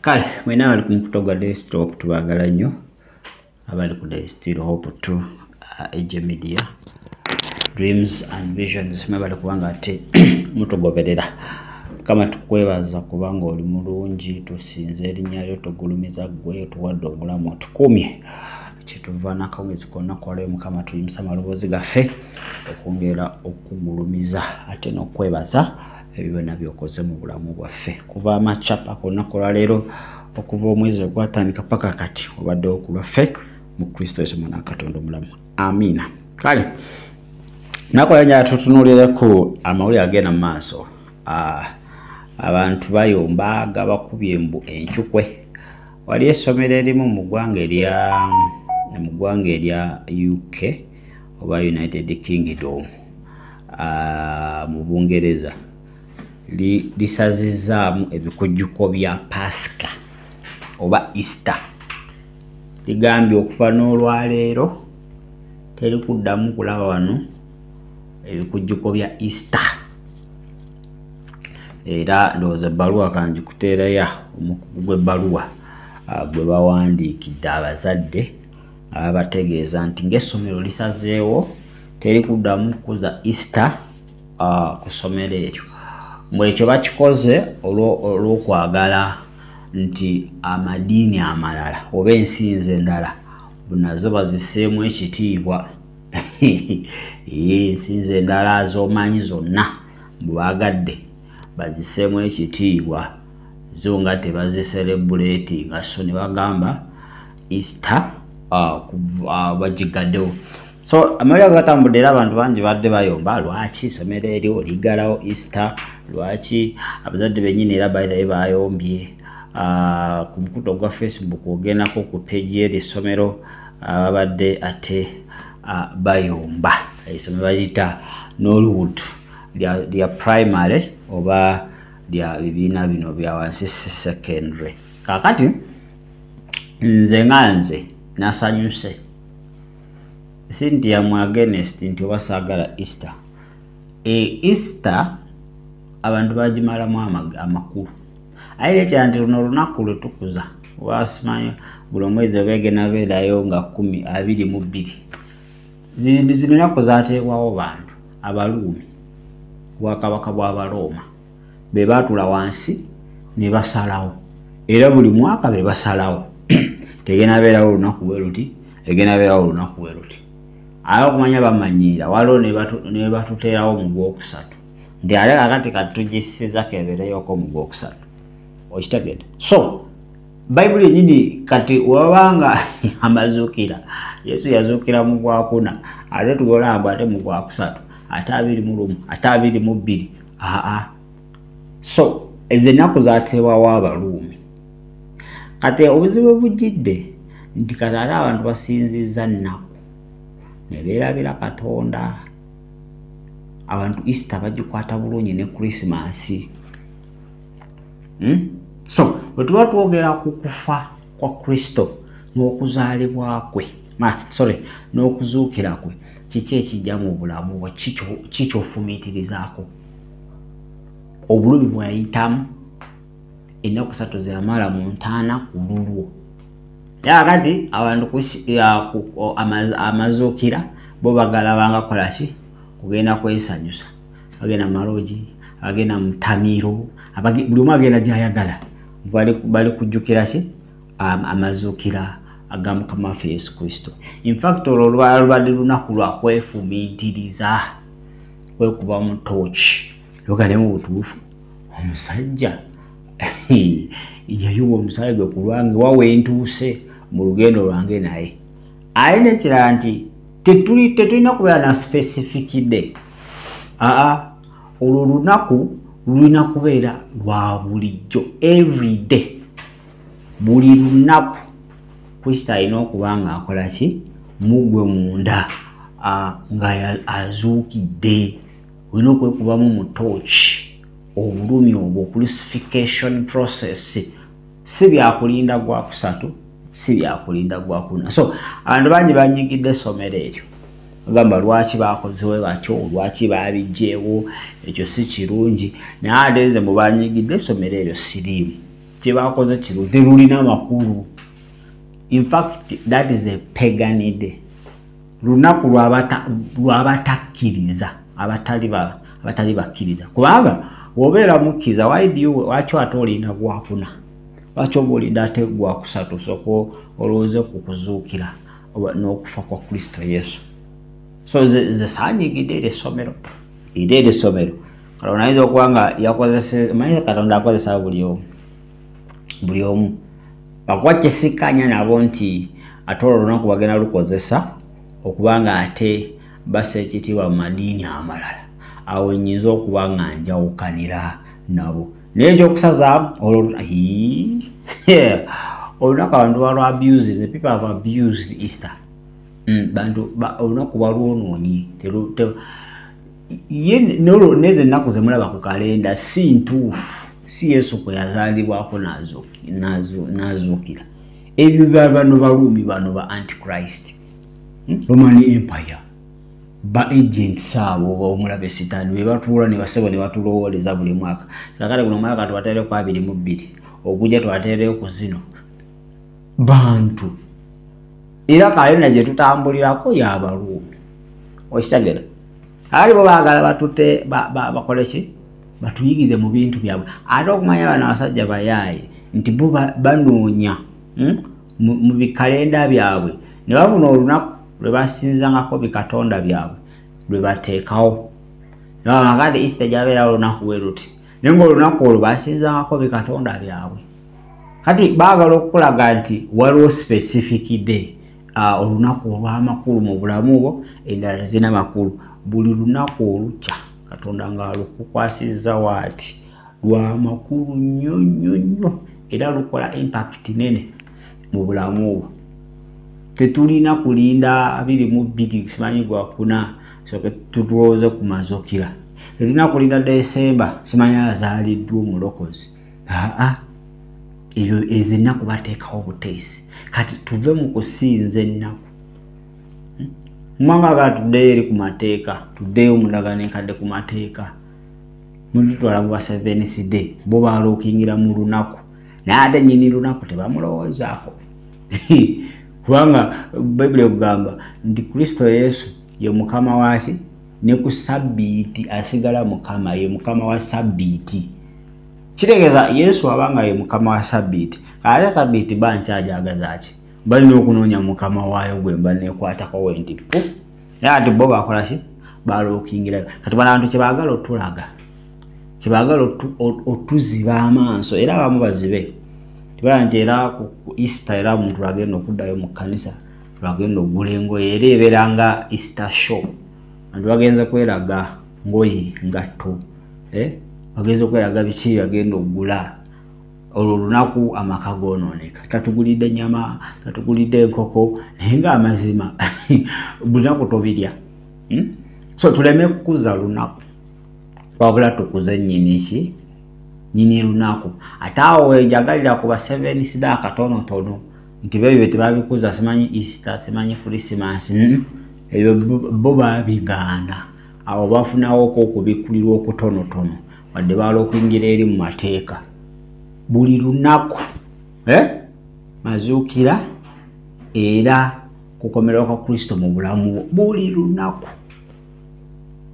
kale mwena abali ku mukuto gwa daystore hope tubagala nnyo abali ku daystore hope to uh, age media dreams and visions mwebale kubanga ate mutugoberera kama tukwebaza kubanga oli mulungi tusinza erinnya lyo tugulumiza ggwe otuwadde obulamu otukumye kyetuva nakawezi konna kwalayo mukama tuyimusa amaloboozi gaffe okwongera okugulumiza ate n'okwebaza ebyo byona byokoze mu bulamu bwaffe kuva amacapa kolunaku olwaleero okuva omwezi ogwatandika paka kati obadde okulwaffe mu kristo yesu mwana katonda omulamu amiina kale nakola nyaa tutunulireku amawulire agenda mu maaso ah, abantu bayomba gabakubye mbu encukwe wali esomero erimu mu ggwanga erya mu ggwanga erya uk oba united kingdom ah, mu bungereza lisazizaamu ebikujjuko bya pasika oba easter ligambye okuva n'olwaleero teri kuddamu kulaba wano ebikujjuko bya easter era ndowooza ebbaluwa kangi kuteeraya omukugu gw'ebbaluwa ah, gwe bawandiikidde abazadde nga babategeeza nti ng'essomero lisazeewo teri kuddamu kukuza easter uh, ku ssomero eryo mbu ekyo bakikoze olw'okwagala nti amadiini amalala oba ensinza endala nazo baziseemu ekitiibwa ensinza endala z'omanyi zonna bwagadde baziseemu ekitiibwa zo nga tebaziserebuleeti nga so ne bagamba easter uh, uh, bagigaddewo so amawulire agatambudde era abantu bangi badde bayomba lwaki isomero eryo ligalawo easter lwaki abazadde benyini era bairaye bayombye uh, ku mukuto gwa facebook ogendako ku peji eri essomero ababadde uh, ate uh, bayomba esome baliyita norwood lya, lya primary oba lya bibiina bino byawansi secondary kakati nze nga nze nasanyuse sintia mu agenest nti oba saagala easter e easter abantu bagimalamu amakulu aye lekyera nti luno olunaku lwe tukuza wasimanyo buli omwezi oba egenda beerayo nga kumi abiri mu bbiri zino naku zateekwawo bantu abaluumi bwakabaka bw'abarooma be baatula wansi ne basalawo era buli mwaka be basalawo tegenda beerawo olunaku bwe luti egenda beerawo olunaku bwe luti aye okumanya bamanyiira waliwo ne batuteerawo mu gwokusatu nti ate kakati katugisiza kebereyoko mu gwokusatu okitegede so bayibuli enyini kati wabanga amazuukira yesu yazuukira mu gwakuna ate tugolamba ate mu gwakusatu ate abiri mu lumu ate abiri mu bbiri aa so ezo ennaku zateewawo abaluumi kati obuzibu bujjidde nti kati ate abantu basinzizza nnaku ne beerabira katonda abantu easter bagikwata bulungi ne krisimansi hmm? so bwe tuba twogera ku kufa kwa kristo n'okuzaalibwa kwe sorry n'okuzuukira kwe kiki ekijja mu bulamu bwe kikyofumiitirizaako obulumi bweyayitamu ennaku satu zeyamala mu ntaana ku lulwo yakati abantu amazuukira bo bagala bangakola ki kugenda kwesanyusa bagenda malogi abagenda mutamiiro buli omu agenda gyayagala bali kujjukira ki um, amazuukira aga mukama waffe yesu kristo infact olwo olwala lubadde lunaku lwa kwefumiitiriza kwekuba mu tooki yogalemu butuufu omusajja yayiwa omusaayi gwe ku lwange wawe ntuuse mu lugendo lwange naye aye nekirala nti tetulina kubeera na specific day aa olwo olunaku lulina kubeera lwa bulijjo every day buli lunaku kristo alina okuba nga akola ki mugwe munda nga azuukidde olina okwekubamu mu tooki obulumi obwo crucification process si byakulinda gwa kusatu si byakulinda gwa kuna so abantu bangi banyigidde essomero eryo ogamba lwaki bakozewe batyo lwaki babijjeewo ekyo si kirungi naye ate nze mubanyigidde essomero eryo siriimu kyebakoze kino terulina makulu infact that is a paganide lunaku lwabatakkiriza abatali bakkiriza kubanga wobeera mukkiriza waki ate olina gwakuna lwaki oba olina ate gwakusatu soko olowooze ku kuzuukira n'okufa kwa kristo yesu so zesaanyigidde eri essomero eri eri essomero katonda ayinza okuba nga yakozesemanyi katonda akozesa buli omu buli omu akuba kyesikanya nabo nti ate olwo olunaku bagenda lukozesa okuba nga ate basa ekitiibwa mu madiini amalala awo nyinza okuba nga njawukanira nabo naye ekyokusazaamu olwo olunaku abantu balwa abuse the people have abused easter mm, bantu olunaku balwonoonyi ye nolwo nezo ennaku zemulaba ku kalenda si ntuufu si yesu kwe yazaalibwako n'azuukira ebyo bano baruumi bano ba antichrist hmm? roman empire ba agents abo omulaba esitaani be batuula ne basebo ne batulowooleza buli mwaka kakale guno omwaka tubateereku abiri mu bbiri ogujja tubateereyo ku zino bantu era kalenda gye tutambulirako yabaruumi okitegera ali bo baagala batute bakole ki batuyigize mu bintu byabwe ate okumanya bano abasajja bayaaye nti bo banoonya hmm, mu bikalenda byabwe ne bafuna olunaku lwe basinzangako bikatonda byabwe lwe bateekawo nabamagade isita gyabeerawo olunaku we luti naye nga olunaku olwo basinzangako bikatonda byabwe kati baagala okukulaga nti waliwo specific day uh, olunaku olw'amakulu mu bulamu bwo endala tezirina makulu buli lunaku olukya katonda ng'alukukwasizza waati lwa makulu nnyo nnyo nnyo era lukola impact nene mu bulamu bwo tetulina kulinda abiri mu bbiri simanyi gwakuna soke tutulowooze ku mazukira tetulina kulinda desemba simanyi azaaliddwa omulokozi aa ebyo ezo ennaku bateekawo buteesi kati tuve mu kusinza ennaku hmm? mumanga gaa tuddeyo eri ku mateeka tuddeyo omundagano enkadde ku mateeka mulitutwala mu basevenisd bo baluukingira mu lunaku naye ate nyini lunaku tebamulowoozaako kubanga bayibuli ekugamba nti kristo yesu ye mukama waki ne ku sabbiiti asigala mukama ye mukama wa sabbiiti kitegeeza yesu aba nga ye mukama wa sabbiiti ate sabbiiti ba nkyajagazaki balina okunoonya mukama waayo gwe mba nekwatako we nti pu naye ati bo bakola ki balookingirayo kati banantu kyebaagala otulaga kyebaagala otuziba amaaso era abamu bazibe tibala nti era ku easter era omuntu lwagenda okuddayo mu kkanisa lwagenda okugula engoye era ebeera nga easter show anti bagenze kweraga ngoye ngatto eh? bageza okweraga biki bagenda okugula olwo olunaku amaka gonooneka tatugulidde nyama tatugulidde enkoko naye nga amazima bunaku tobirya hmm? so tuleme kukuza lunaku wabula tukuze nyini ki nyini lunaku ate awo enjagalira ku baseveni sida akatonotono nti bebyo betebabikuza simanyi easter simanyi krisimas hmm? ebyo bo babiganda awo bafunawo ko okubikkulirwa okutonotono wadde baala okuyingira eri mu mateeka buli lunaku eh? mazuukira era kukomerwa kwa kristo mu bulamu bwo buli lunaku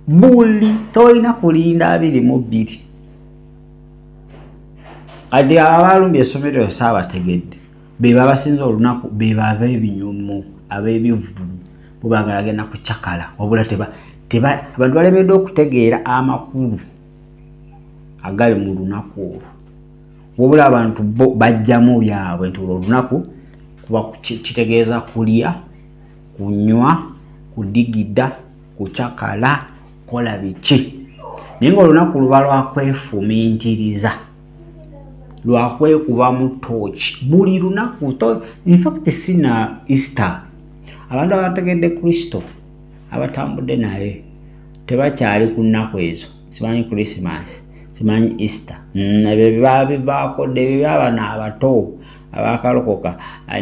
buli tolina kulinda abiri mu bbiri kati abaalumbye esomero yo saabategedde beba abasinza olunaku beba abebinyumu abebivulu bo bagala agenda kucakala wabula teba teba abantu balemeddwa okutegeera amakulu agali mu lunaku olwo wabula abantu bo bajjamu byabwe nti olwo olunaku kuba kitegeeza kulya kunywa kudigida kucakala kola biki naye nga olunaku luba lwakwefumintiriza lwakwekubamu tooki buli lunaku infact sina easter abantu abategedde kristo abatambudde naye tebakyali ku nnaku ezo simanyi christmas simanyi easter mm, ebyo byebabivaako dde ebyo byabana abato abakalokoka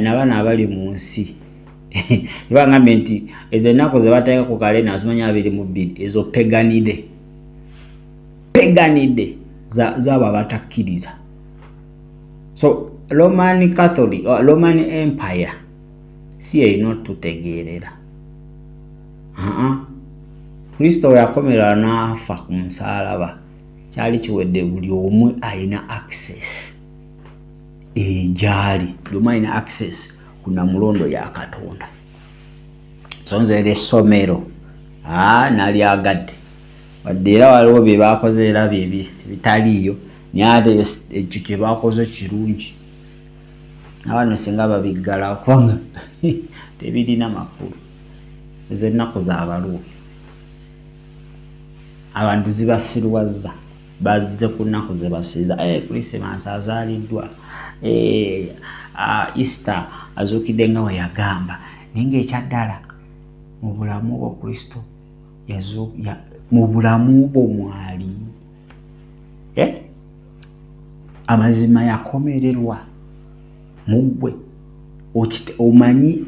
nabana abali mu nsi ebangambye nti ezo ennaku zebateeka ku kalena zimanyi abiri mu bbiri ezo peganide peganide zabo abatakkiriza so roman catholic uh, roman empire si erina otutegeerera kristo weyakomerera n'afa ku musaalaba kyali kiwedde buli omu alina access egyali eh, buli omu alina access ku namulondo ya katonda sonzera essomero ah, nalyagadde wadde era waliwo bye baakoze era bye bitaliiyo naye ate ekyo kye baakoze kirungi abano singa babiggala kubanga tebirina makulu ezo ennaku zabaluwo abantu zibasirwazza bazze ku nnaku zebasiiza eh, krisimansi azaaliddwa eh, ah, easter azuukidde nga weyagamba naye ngaekyaddala mu bulamu bwa kristo mu bulamu bwo mwali eh? amazima yakomererwa muggwe omanyi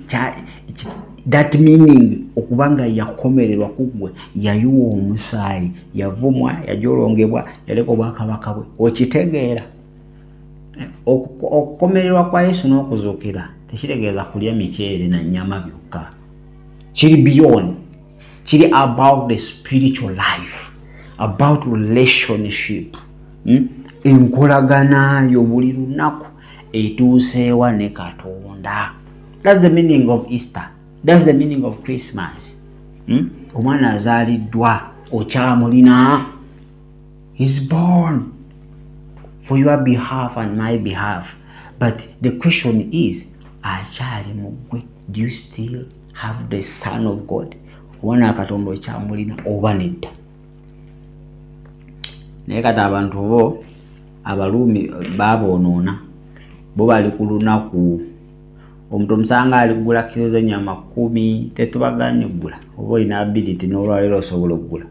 that meaning okuba nga yakomererwa kuggwe yayiwa omusaayi yavumwa yajolongebwa yaleka obwakabaka bwe okitegeera okukomererwa kwa yesu n'okuzuukira tekitegeeza kulya miceere na nyama byokka kiri beyond kiri about the spiritual life about relationship hmm? enkolagana yo buli lunaku etuuseewa ne katonda thats the meaning of easter thats the meaning of christmas hmm? omwana azaaliddwa okyamulina is born for your behalf and my behalf but the question is akyali mu ggwe do you still have the son of god wona katonda okyamulina oba nedda naye kati abantu bo abaluumi baboonoona bo bali ku lunaku omuntu omusanga aligula kiro zenyama kumi tetubaganye okugula oba olina ability nolwaleero osobola okugula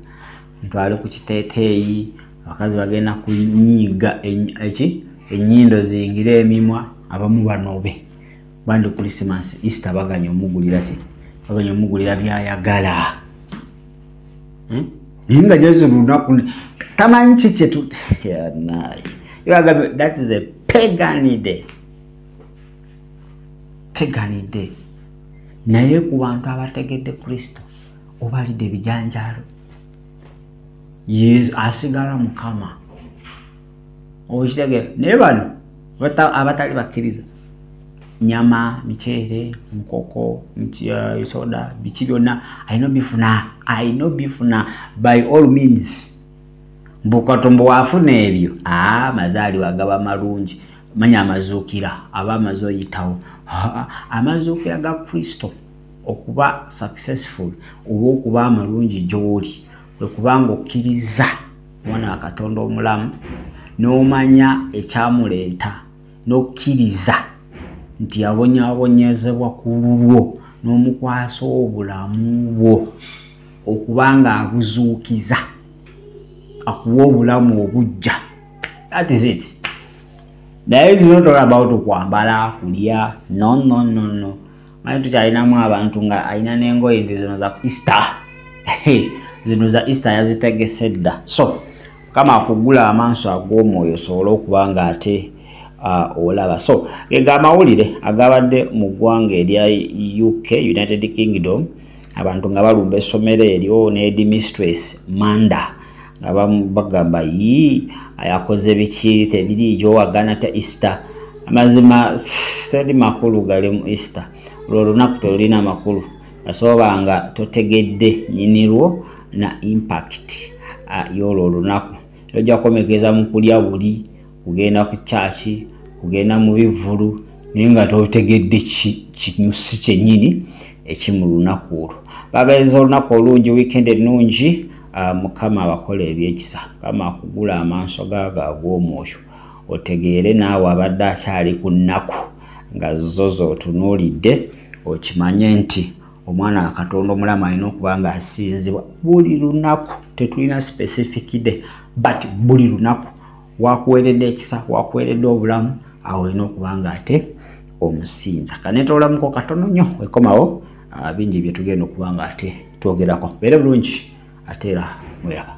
omuntu ali ku kiteteeyi abakazi bagenda kunyiiga eki enyindo zingire emimwa abamu banobe bandi christmas easter baganya omugulira ki baganya omugulira byayagala hmm? naye nga jezi lunaku tamanyi ki kyetu that is a peganide peganide naye ku bantu abategedde kristo obalidde ebijanjaalo asigala mukama okitegera naye bano abatali bakkiriza nyama miceere nkoko uh, soda biki byonna alina obifuna alina obifuna by all means mbukatombo waafuna ebyo aa ah, mazaalibwa agaba malungi manya amazuukira aba amaze oyitawo amazuukira ga kristo okuba successful oba okuba amalungi gy'oli kwe kubanga okkiriza mwana wa katonda omulamu n'omanya ekyamuleeta n'okkiriza nti yabonyabonyezebwa ku lulwo n'omukwasa obulamu bwo okuba nga abuzuukiza akuwa obulamu obujja that is it naye zinotola about okwambala kulya no no no no manyi tukyalinamu abantu nga alina n'engoye nti zino za easter zino za easter yazitegese dda so kama akugula amaaso ag'omwoyo osobole okuba nga ate olaba so ega amawulire agabadde mu ggwanga erya uk united kingdom abantu nga balumba essomero eryo nedi mistress manda nga bagamba yii ayakoze biki tebiriiyo agana ta easter amazima teri makulu gali mu easter olwo olunaku telulina makulu asoba nga totegedde nyinirwo na impact y'olwo olunaku ojja kukomekeza mu kulya buli kugenda ku kyaki kugenda mu bivvulu naye nga totegedde kinyusi kyennyini eki mu lunaku olwo babeeza olunaku olungi wiikendi ennungi ah, mukama abakola ebyekisa mukama akugula amaaso gaago ag'omwoyo otegeere naawe abadde akyali ku nnaku nga zo zootunuulidde okimanye nti omwana wa katonda omulamu alina okuba nga asinzibwa buli lunaku tetulina specific day but buli lunaku wakuweredde ekisa wakuweredde obulamu awo olina okuba nga ate omusinza kanetolamuko katono nyo ekomawo ah, bingi byetugenda okuba nga ate twogerako beere bulungi ate era mweraba